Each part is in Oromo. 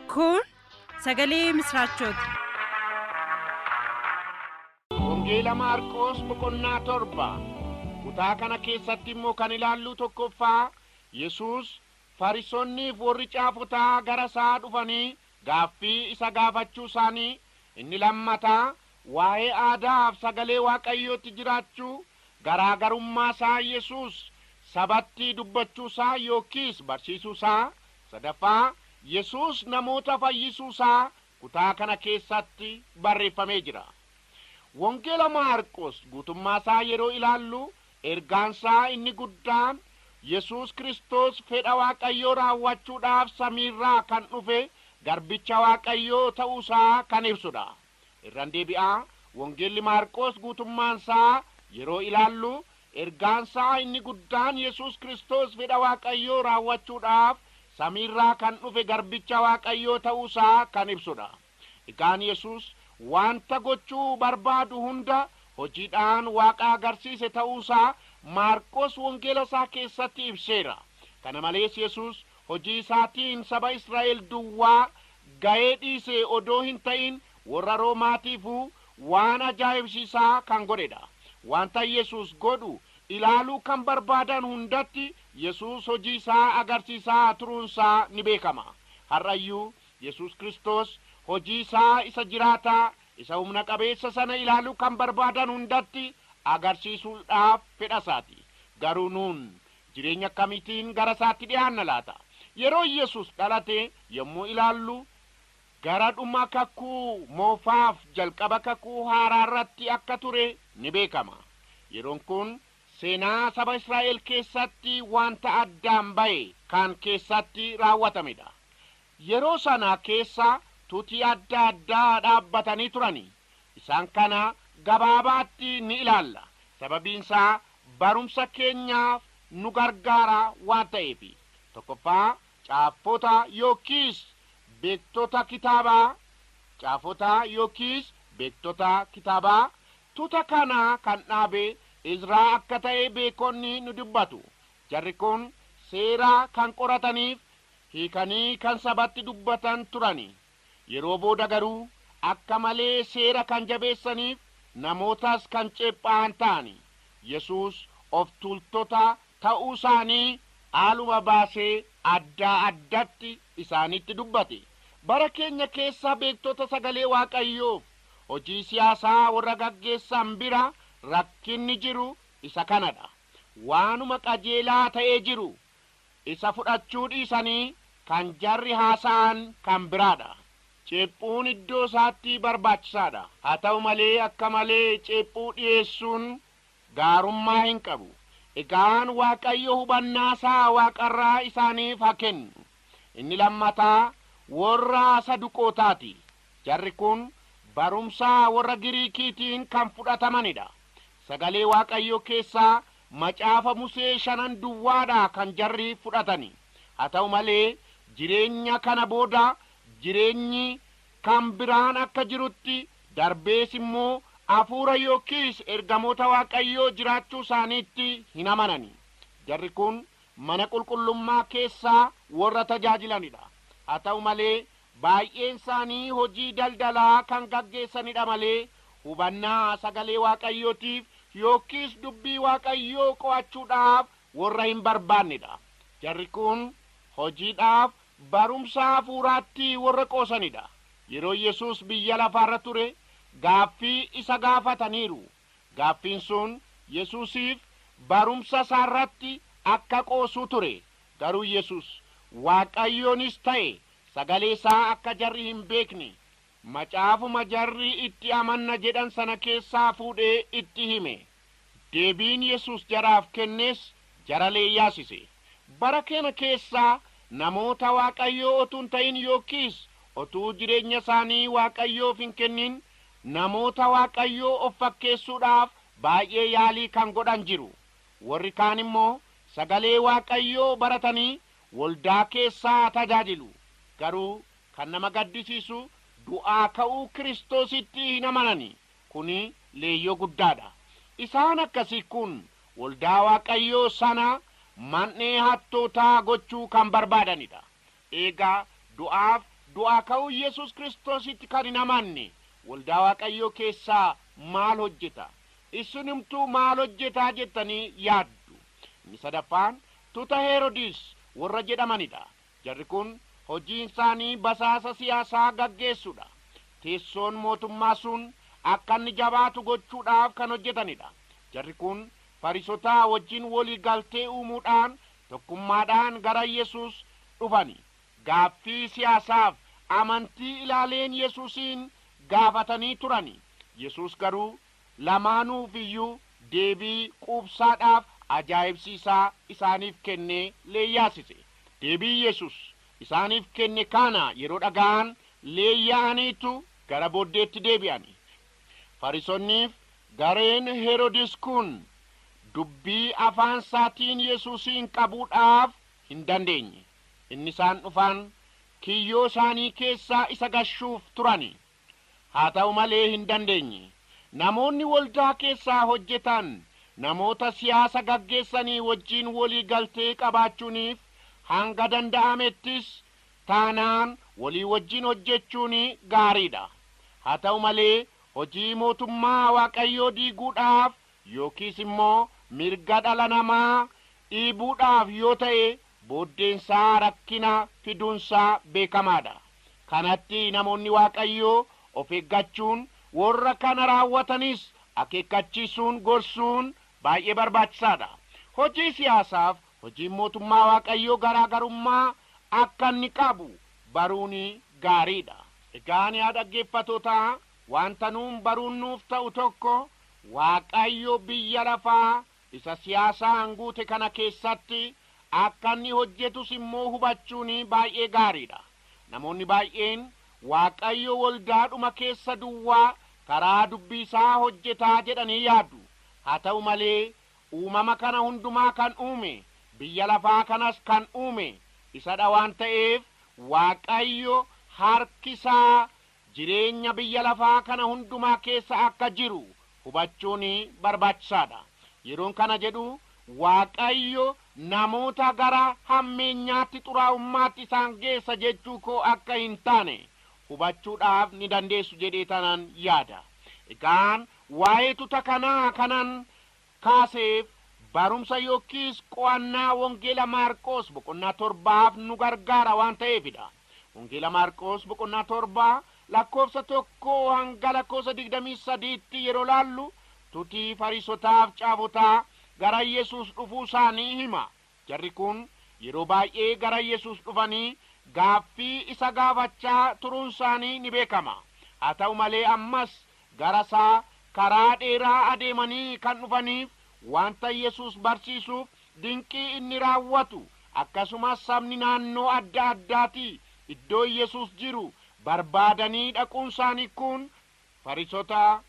Kun sagalee misraachooti. Wangeela Maarqoos boqonnaa torba. Kutaa kana keessatti immoo kan ilaalluu tokkoffaa Yesuus Farisonniif warri caafotaa gara isaa dhufanii gaaffii isa gaafachuu isaanii, inni lammataa waa'ee aadaaf sagalee Waaqayyootti jiraachuu, garaa garummaa isaa Yesuus sabatti dubbachuu isaa yookiis barsiisuu isaa, Sadaffaa, Yesuus namoota fayyisuu isaa kutaa kana keessatti barreeffamee jira. Wangeela Maarqos guutummaa isaa yeroo ilaallu ergaan isaa inni guddaan Yesuus Kiristoos fedha Waaqayyoo raawwachuudhaaf samiirraa kan dhufe garbicha Waaqayyoo ta'uu isaa kan ibsudha. Irran deebi'a, Wangeelli Maarqoos guutummaansaa yeroo ilaallu, ergaansaa inni guddaan Yesuus Kiristoos fedha Waaqayyoo raawwachuudhaaf samiirraa kan dhufe garbicha Waaqayyoo ta'uusaa kan ibsudha. Egaan Yesuus wanta gochuu barbaadu hunda hojiidhaan Waaqa agarsiise ta'uusaa Maarqoos Wangeelasaa keessatti ibseera. Kana malees Yesuus Hojii isaatiin saba Israa'el duwwaa ga'ee dhiisee odoo hin ta'in, worra Roomaatiifuu waan ajaa'ibsiisaa kan godhe dha. Wanta Yesuus godhu ilaaluu kan barbaadan hundatti Yesuus hojii isaa agarsiisaa turuun isaa ni beekama. Har'a iyyuu Yesuus Kiristoos hojii isaa isa jiraataa, isa humna qabeessa sana ilaaluu kan barbaadan hundatti agarsiisuudhaaf fedha isaa ti. Garuu nuun Jireenya akkamiitiin gara isaatti dhihaanna laata? Yeroo Yesus dhalate yommuu ilaallu, gara dhuma Kakuu Moofaaf jalqaba Kakuu Haaraa irratti akka ture ni beekama. Yeroon kun seenaa saba Israa'el keessatti wanta addaan ba'e kan keessatti raawwatamedha. Yeroo sana keessa tuti adda addaa dhaabbatanii turanii. Isaan kana gabaabaatti ni ilaalla, sababiin isaa barumsa keenyaaf nu gargaara waan ta'eefi. Tokkoffaa, caaffota yookiis beektota kitaabaa, Caafota yookiis beektota kitaabaa, Tuta kana kan dhaabe Izraa akka ta'e beekonni ni dubbatu. Jarri kun seera kan qorataniif hiikanii kan sabatti dubbatan turani. Yeroo booda garuu akka malee seera kan jabeessaniif namootas kan ceepha'an ta'ani. Yesuus of tuultota ta'uusaanii haaluma baasee addaa addatti isaanitti dubbate. Bara keenya keessa beektota sagalee Waaqayyoof hojii siyaasaa warra gaggeessan bira rakkinni jiru isa kanadha. Waanuma qajeelaa ta'ee jiru Isa fudhachuu dhiisanii kan jarri haasa'an kan biraadha. Ceephuun iddoo isaatti barbaachisaadha. Haa ta'u malee akka malee ceephuu dhiyeessuun gaarummaa hin qabu. Egaan Waaqayyo hubannaa isaa waaqarraa isaaniif haa kennu. Inni lammataa worra Saduqootaati. Jarri kun barumsa worra Giriikiitiin kan fudhatamanidha. Sagalee Waaqayyoo keessaa Macaafa Musee shanan duwwaadha kan jarri fudhatani. Haa ta'u malee, jireenya kana booda jireenyi kan biraan akka jirutti, darbees immoo Hafuura yookiis ergamoota Waaqayyoo jiraachuu isaaniitti hin amanani. Jarri kun mana qulqullummaa keessa warra tajaajilanidha. Haa ta'u malee, Baay'eensaanii hojii daldalaa kan gaggeessanidha malee hubannaa sagalee Waaqayyootiif yookiis dubbii Waaqayyoo qo'achuudhaaf worra hin barbaannedha. Jarri kun hojiidhaaf, barumsa hafuuraatti worra qoosanidha. Yeroo Yesuus biyya lafaarra ture gaaffii isa gaafataniiru. Gaaffiin sun Yesuusiif barumsasaarratti akka qoosuu ture. Garuu Yesuus, Waaqayyoonis ta'e Sagalee isaa akka jarri hin beekne macaafuma jarri itti amanna jedhan sana keessaa fuudhee itti hime. Deebiin Yesuus jaraaf kennes jara leeyyaasise. Bara keena keessa namoota Waaqayyoo otuu hin ta'in yookiis otuu jireenya isaanii Waaqayyoof hin kennin namoota Waaqayyoo of fakkeessuudhaaf baay'ee yaalii kan godhan jiru. Warri kaan immoo sagalee Waaqayyoo baratanii Waldaa keessa haa tajaajilu, garuu kan nama gaddisiisu du'aa ka'uu Kiristoositti hin amanani. Kuni leeyyoo guddaadha. Isaan akkasii kun waldaa Waaqayyoo sana man'ee hattootaa gochuu kan barbaadanidha. Eegaa du'aaf du'aa ka'uu Yesus Kiristoositti kan hin amanne waldaa Waaqayyoo keessa maal hojjeta? Issinumtuu maal hojjetaa jettanii yaaddu? Inni sadaffaan Tuta Heerodis warra jedhamanidha. Jarri kun hojiinsaanii basaasa siyaasaa gaggeessuudha. Teessoon mootummaa sun akka inni jabaatu gochuudhaaf kan hojjetanidha. Jarri kun Farisotaa wajjin wolii galtee uumuudhaan tokkummaadhaan gara Yesus dhufani. Gaaffii siyaasaaf amantii ilaaleen Yesusiin gaafatanii turani. Yesus garuu Lamaanuuf iyyuu deebii quubsaadhaaf ajaa'ibsiisaa isaaniif kennee leeyyaasise. Deebii Yesus isaaniif kenne kana yeroo dhaga'an leeyya'aniitu gara booddeetti deebi'ani. Farisonniif gareen Herodis kun dubbii afaan isaatiin Yesusiin qabuudhaaf hin dandeenye. Inni isaan dhufan kiyyoo isaanii keessaa isa gashuuf turani. Haa ta'u malee hin dandeenye. Namoonni waldaa keessaa hojjetan namoota siyaasa gaggeessanii wajjin walii galtee qabaachuuniif hanga danda'amettis taanaan walii wajjin hojjechuun gaarii dha. Haa ta'u malee, hojii Mootummaa Waaqayyoo diiguudhaaf yookiis immoo mirga dhala namaa dhiibuudhaaf yoo ta'e booddeensaa rakkina fiduunsaa beekamaadha. Kanatti namoonni Waaqayyoo of eeggachuun worra kana raawwatanis akeekkachiisuun gorsuun baay'ee barbaachisaadha. Hojii siyaasaaf hojiin Mootummaa Waaqayyoo garaa garummaa akka inni qabu baruun gaariidha. Egaan yaa dhaggeeffatootaa, wanta nuun baruun nuuf ta'u tokko Waaqayyo biyya lafaa Isa siyaasaa hanguute kana keessatti akka inni hojjetus immoo hubachuun baay'ee gaarii dha. Namoonni baay'een, Waaqayyo waldaadhuma keessa duwwaa karaa Dubbii isaa hojjeta jedhanii yaadu. Haa ta'u malee, uumama kana hundumaa kan uume, biyya lafaa kanas kan uume isa dha waan ta'eef, Waaqayyo harki isaa jireenya biyya lafaa kana hundumaa keessa akka jiru hubachuun barbaachisaa dha. Yeroon kana jedhu Waaqayyo namoota gara hammeenyaatti, xuraa'ummaatti isaan geessa jechuu koo akka hin taane hubachuudhaaf ni dandeessu jedheetanan yaada. Egaan waa'ee tuta kanaa kanan kaaseef barumsa yookiis qo'annaa Wangeela Maarqoos boqonnaa torbaaf nu gargaara waan ta'eefi dha. Wangeela Maarqoos boqonnaa torba lakkoofsa tokkoo hanga lakkoofsa digdamii sadiitti yeroo laallu tutii Fariisotaaf caafotaa gara Yesuus dhufuu isaanii hima. Jarri kun yeroo baay'ee gara Yesuus dhufanii gaaffii isa gaafachaa turuunsaanii ni beekama. Haa ta'u malee ammas garasaa karaa dheeraa adeemanii kan dhufaniif wanta Yesuus barsiisuuf, dinqii inni raawwatu, akkasumas sabni naannoo adda addaatii iddoo Yesuus jiru barbaadanii dhaquunsaanii kun Farisotaa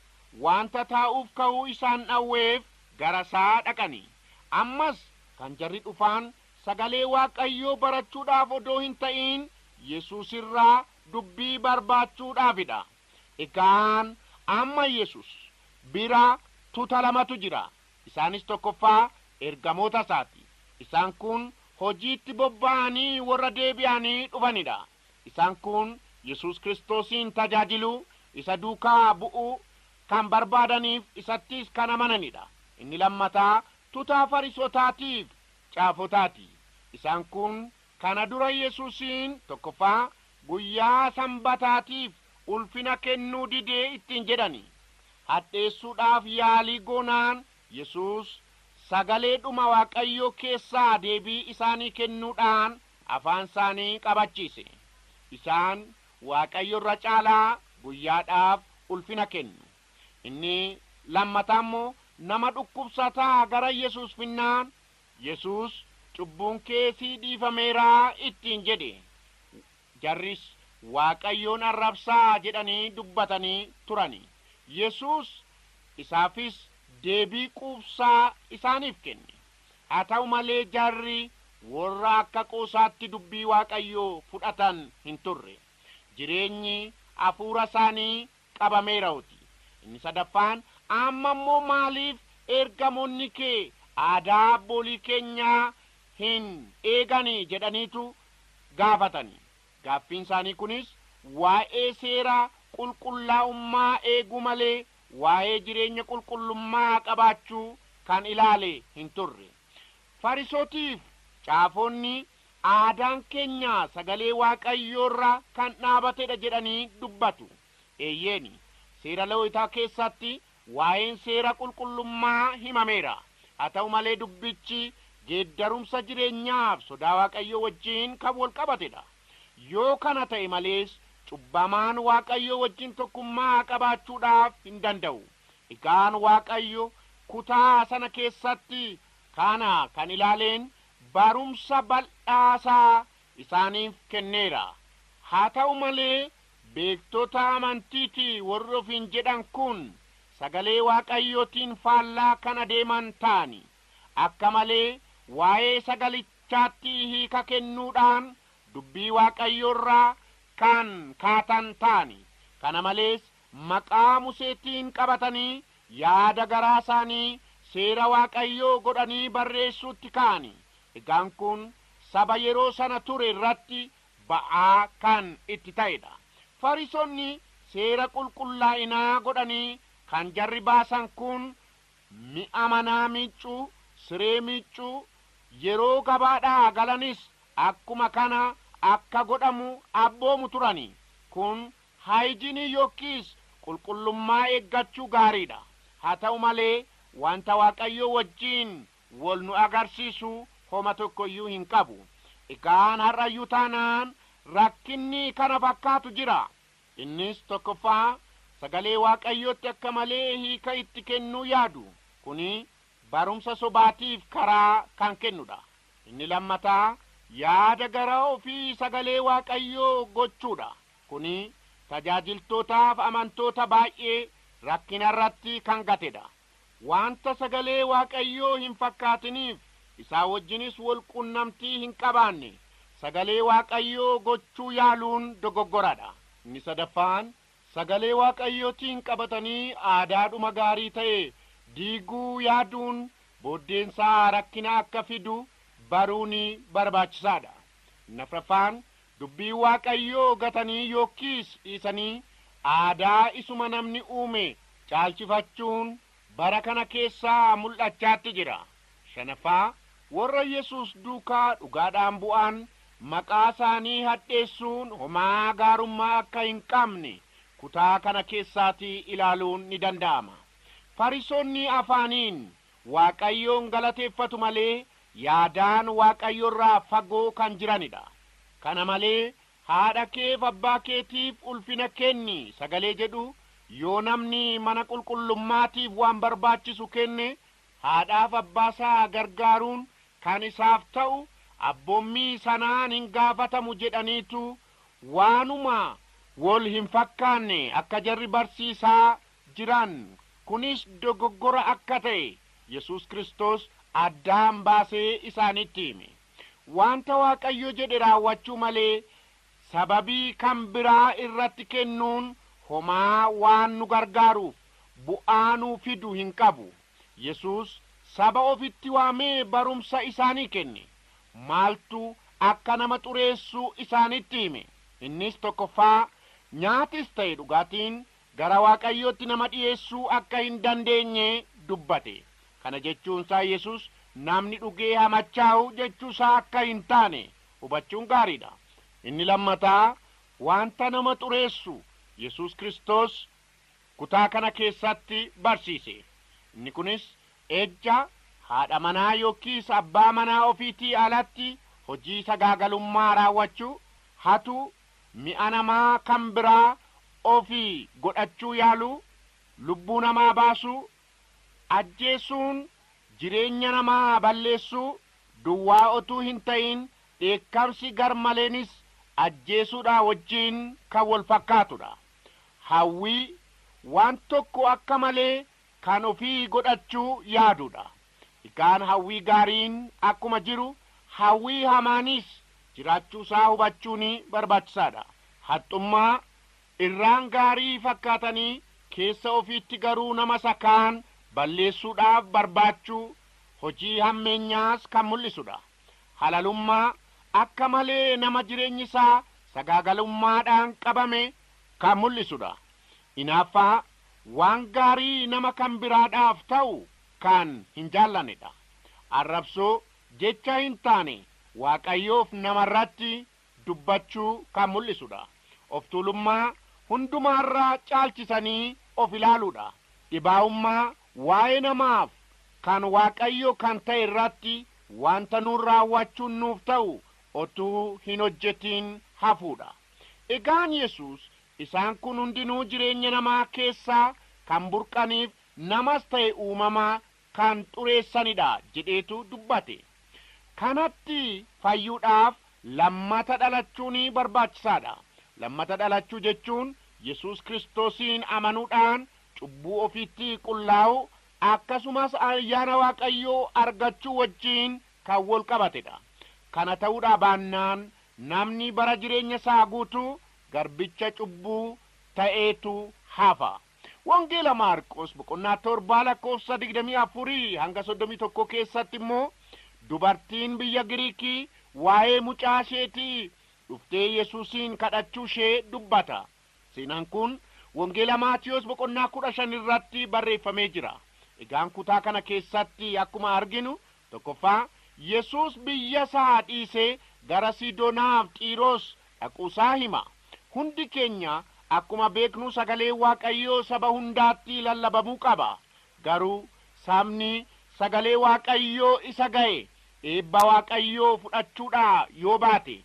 wanta taa'uuf ka'uu isaan dhawweef gara isaa dhaqani. Ammas kan jarri dhufaan sagalee Waaqayyoo barachuudhaaf odoo hin ta'iin Yesuus irraa dubbii barbaachuudhaafi dha. Egaan amma Yesuus bira tuta lamatu jira. Isaanis tokkoffaa ergamoota isaati. Isaan kun hojiitti bobba'anii warra deebi'anii dhufani dha. Isaan kun Yesuus Kiristoosiin tajaajiluu, isa duukaa bu'uu, kan barbaadaniif isattis kan amanani dha. Inni lammataa tutaa Farisotaati fi caafotaa ti. Isaan kun kana dura Yesuusiin, tokkoffaa, guyyaa Sanbataatiif ulfina kennuu dide ittiin jedhani. Hadheessuudhaaf yaalii goonaan Yesuus sagalee dhuma Waaqayyoo keessaa deebii isaanii kennuudhaan, afaansaanii qabachiise. Isaan Waaqayyo irra caalaa guyyaadhaaf ulfina kennu. Inni lammataa immoo nama dhukkubsataa gara Yesuus finnaan, Yesuus, cubbuun kee sii dhiifameera ittiin jedhe. Jarris Waaqayyoon arrabsaa jedhanii dubbatanii turani. Yesuus isaafis deebii quubsaa isaaniif kenne. Haa ta'u malee jarri worra akka qoosaatti dubbii Waaqayyoo fudhatan hin turre. Jireenyi hafuura isaanii qabameerauti. Inni sadaffaan, Amma immoo maaliif ergamoonni kee aadaa abboolii keenyaa hin eegani? jedhaniitu gaafatani. Gaaffiin isaanii kunis waa'ee seera qulqullaa'ummaa eeguu malee waa'ee jireenya qulqullummaa qabaachuu kan ilaale hin turre. Farisotiif caafonni aadaan keenya sagalee Waaqayyoorra kan dhaabatedha jedhanii dubbatu. Eeyyeeni, seera Lewitaa keessatti waa'een seera qulqullummaa himameera. Haa ta'u malee dubbichi geeddarumsa jireenyaaf sodaa Waaqayyoo wajjin kan wal qabatedha. Yoo kana ta'e malees, cubbamaan Waaqayyoo wajjin tokkummaa qabaachuudhaaf hin danda'u. Egaan Waaqayyo kutaa sana keessatti kana kan ilaaleen barumsa bal'aasaa isaaniif kenneera. Haa ta'u malee, beektota amantiiti warri ofiin jedhan kun Sagalee Waaqayyootiin faallaa kan adeeman ta'ani. Akka malee waa'ee Sagalichaa. jechaatti hiika kennuudhaan Dubbii Waaqayyoo irraa kan kaatan ta'ani. Kana malees, maqaa Museetiin qabatanii yaada garaa isaanii Seera Waaqayyoo godhanii barreessuutti ka'ani. Egaan kun saba yeroo sana ture irratti ba'aa kan itti ta'e dha. Farisonni seera qulqullaa'inaa godhanii kan jarri baasan kun Mi'a manaa miiccuu, siree miiccuu, yeroo gabaadhaa galanis akkuma kana akka godhamu abboomu turani. Kun haayijinii yokkiis qulqullummaa eeggachuu gaariidha. Haa ta'u malee wanta Waaqayyoo wajjin wol nu agarsiisu homa tokkoyyuu hin qabu. Egaan har'ayyuu taanaan rakkinni kana fakkaatu jira. Innis tokkoffaa sagalee Waaqayyootti akka malee hiika itti kennuu yaadu. Kuni barumsa sobaatiif karaa kan kennudha. Inni lammataa yaada garaa ofii sagalee Waaqayyoo gochuudha. Kuni tajaajiltootaaf amantoota baay'ee rakkinarratti kan gatedha. Wanta sagalee Waaqayyoo hin fakkaatiniif, isaa wajjinis wal qunnamtii hin qabaanne, sagalee Waaqayyoo gochuu yaaluun dogoggora dha. Inni sadaffaan, sagalee Waaqayyootiin qabatanii aadaadhuma gaarii ta'e diiguu yaaduun booddeen isaa rakkina akka fidu baruuni barbaachisaa dha. Inni afraffaan, Dubbii Waaqayyoo gatanii yookiis dhiisanii aadaa isuma namni uume caalchifachuun bara kana keessa mul'achaatti jira. Shanaffaa, warra Yesuus duukaa dhugaadhaan bu'an maqaa isaanii hadheessuun homaa gaarummaa akka hin qabne kutaa kana keessaatii ilaaluun ni danda'ama. Fariisonni afaaniin Waaqayyoon galateeffatu malee yaadaan Waaqayyo irraa fagoo kan jirani dha. Kana malee haadha keef abbaa keetiif ulfina kenni sagalee jedhu yoo namni mana qulqullummaatiif waan barbaachisu kenne haadhaaf abbaa isaa gargaaruun kan isaaf ta'u abboommii sanaan hin gaafatamu jedhaniitu waanuma wol hin fakkaanne akka jarri barsiisaa jiran, kunis dogoggora akka ta'e Yesuus Kiristoos addaan baasee isaanitti hime. Wanta Waaqayyo jedhe raawwachuu malee sababii kan biraa irratti kennuun homaa waan nu gargaaruuf bu'aa nuu fidu hin qabu. Yesuus saba ofitti waamee barumsa isaanii kenne. Maaltu akka nama xureessu isaanitti hime. Innis tokkoffaa, nyaatis ta'e dhugaatiin gara Waaqayyootti nama dhi'eessuu akka hin dandeenye dubbate. Kana jechuunsaa Yesus namni dhugee haa machaa'u jechuusaa akka hin taane hubachuun gaariidha. Inni lammataa, wanta nama xureessu Yesus Kiristos kutaa kana keessatti barsiise. Inni kunis ejja, haadha manaa yookiis abbaa manaa ofiitii alatti hojii sagaagalummaa raawwachuu, hatuu, mi'a namaa kan biraa ofii godhachuu yaaluu, lubbuu namaa baasuu, ajjeesuun jireenya namaa balleessuu duwwaa otuu hin ta'iin dheekkamsi garmaleenis ajjeesuudhaa wajjin kan wal fakkaatudha. Hawwii, waan tokko akka malee kan ofii godhachuu yaaduudha. Hikaan hawwii gaariin akkuma jiru hawwii hamaanis jiraachuu isaa hubachuuni barbaachisaadha. Haxxummaa, irraan gaarii fakkaatanii keessa ofiitti garuu nama isa kaan balleessuudhaaf barbaachuu hojii hammeenyaas kan mul'isudha. Halalummaa, akka malee nama jireenyi isaa sagaagalummaadhaan qabame kan mul'isudha. Inaaffaa, waan gaarii nama kan biraadhaaf ta'u kaan hin jaallanne dha. Arrabsoo, jecha hin taane Waaqayyoof nama irratti dubbachuu kan mul'isu dha. Of tuulummaa, hundumaa irra caalchisanii of ilaaluu dha. Dhibaa'ummaa, waa'ee namaaf kan Waaqayyoo kan ta'e irratti wanta nuun raawwachuun nuuf ta'u otuu hin hojjetiin hafuu dha. Egaan Yesuus Isaan kun hundinuu jireenya namaa keessaa kan burqaniif namas ta'e uumama kan xureessanidha jedheetu dubbate. Kanatti fayyuudhaaf lammata dhalachuun barbaachisaadha. Lammata dhalachuu jechuun Yesuus Kiristoosiin amanuudhaan cubbuu ofiitti qullaa'uu akkasumas ayyaana Waaqayyoo argachuu wajjin kan wal qabatedha. Kana ta'uudhaa baannaan namni bara jireenya isaa guutuu garbicha cubbuu ta'eetu hafa. Wangeela Maarqos boqonnaa 7 lakkoofsa 24-31 keessatti immoo dubartiin biyya Giriikii waa'ee mucaa isheetii dhuftee Yesuusiin kadhachuu ishee dubbata. Seenaan kun Wangeela Maatiyoos boqonnaa 15 irratti barreeffamee jira. Egaan kutaa kana keessatti akkuma arginu Tokkoffaa, Yesuus biyyasaa dhiisee gara Sidonaaf Xiiros dhaquusaa hima. Hundi keenya akkuma beeknu sagaleen Waaqayyoo saba hundaatti lallabamuu qaba. Garuu sabni sagalee Waaqayyoo isa ga'e eebba Waaqayyoo fudhachuudhaa yoo baate,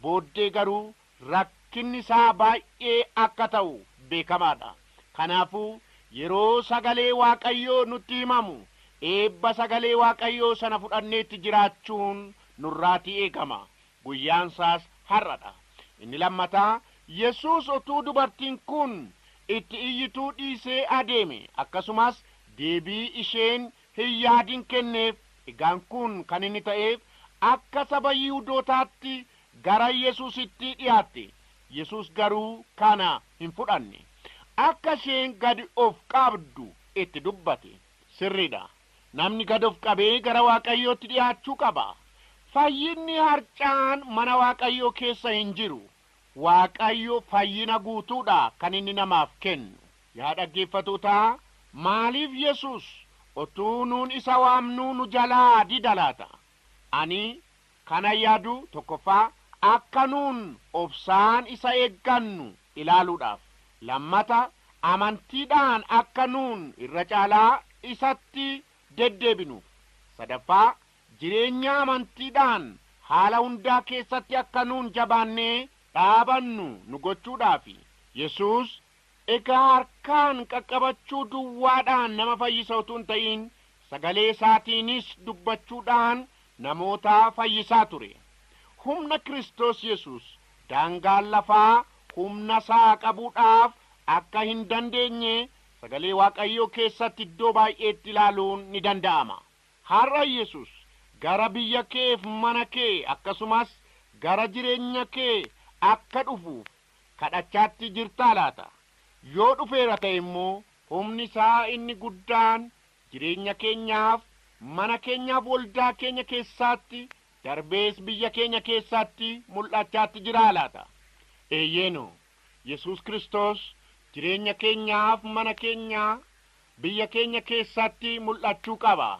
booddee garuu rakkinni isaa baay'ee akka ta'u beekamaa dha. Kanaafuu, yeroo Sagalee Waaqayyoo nutti himamu, eebba Sagalee Waaqayyoo sana fudhannee itti jiraachuun nurraatii eegama. Guyyaan isaas har'a dha. Inni lammataa, Yesuus utuu dubartiin kun itti iyyituu dhiisee adeeme, akkasumas deebii isheen hin yaadin kenneef, egaan kun kan inni ta'eef, akka saba Yihudootaatti gara Yesuusitti dhiyaatte. Yesuus garuu kana hin fudhanne. Akka isheen gad of qabdu itti dubbate. Sirriidha. Namni gad of qabee gara Waaqayyootti dhiyaachuu qaba. Fayyinni harca'aan mana Waaqayyoo keessa hin jiru. Waaqayyo fayyina guutuudha kan inni namaaf kennu. Yaa dhaggeeffatootaa, maaliif Yesuus otuu nuun isa waamnuu nu jalaa dida laata? Ani kanan yaadu tokkoffaa akka nuun obsaan isa eeggannu ilaaluudhaaf, lammata amantiidhaan akka nuun irra caalaa isatti deddeebinuuf, sadaffaa jireenya amantiidhaan haala hundaa keessatti akka nuun jabaannee dhaabannu nu gochuudhaafi. Yesuus Egaa harkaan qaqqabachuu duwwaadhaan nama fayyisa utuu hin ta'iin sagalee isaatiinis dubbachuudhaan namoota fayyisaa ture. Humna Kiristoos Yesuus daangaan lafaa humna isaa qabuudhaaf akka hin dandeenye sagalee Waaqayyoo keessatti iddoo baay'eetti ilaaluun ni danda'ama. Har'a Yesuus gara biyya keef mana kee akkasumas gara jireenya kee akka dhufuuf kadhachaatti jirtaa laata? Yoo dhufeera ta'e immoo humni isaa inni guddaan jireenya keenyaaf, mana keenyaaf waldaa keenya keessaatti darbees biyya keenya keessaatti mul'achaatti jiraa laata? Eeyyeeno. Yesuus Kiristoos jireenya keenyaaf, mana keenya, biyya keenya keessaatti mul'achuu qaba.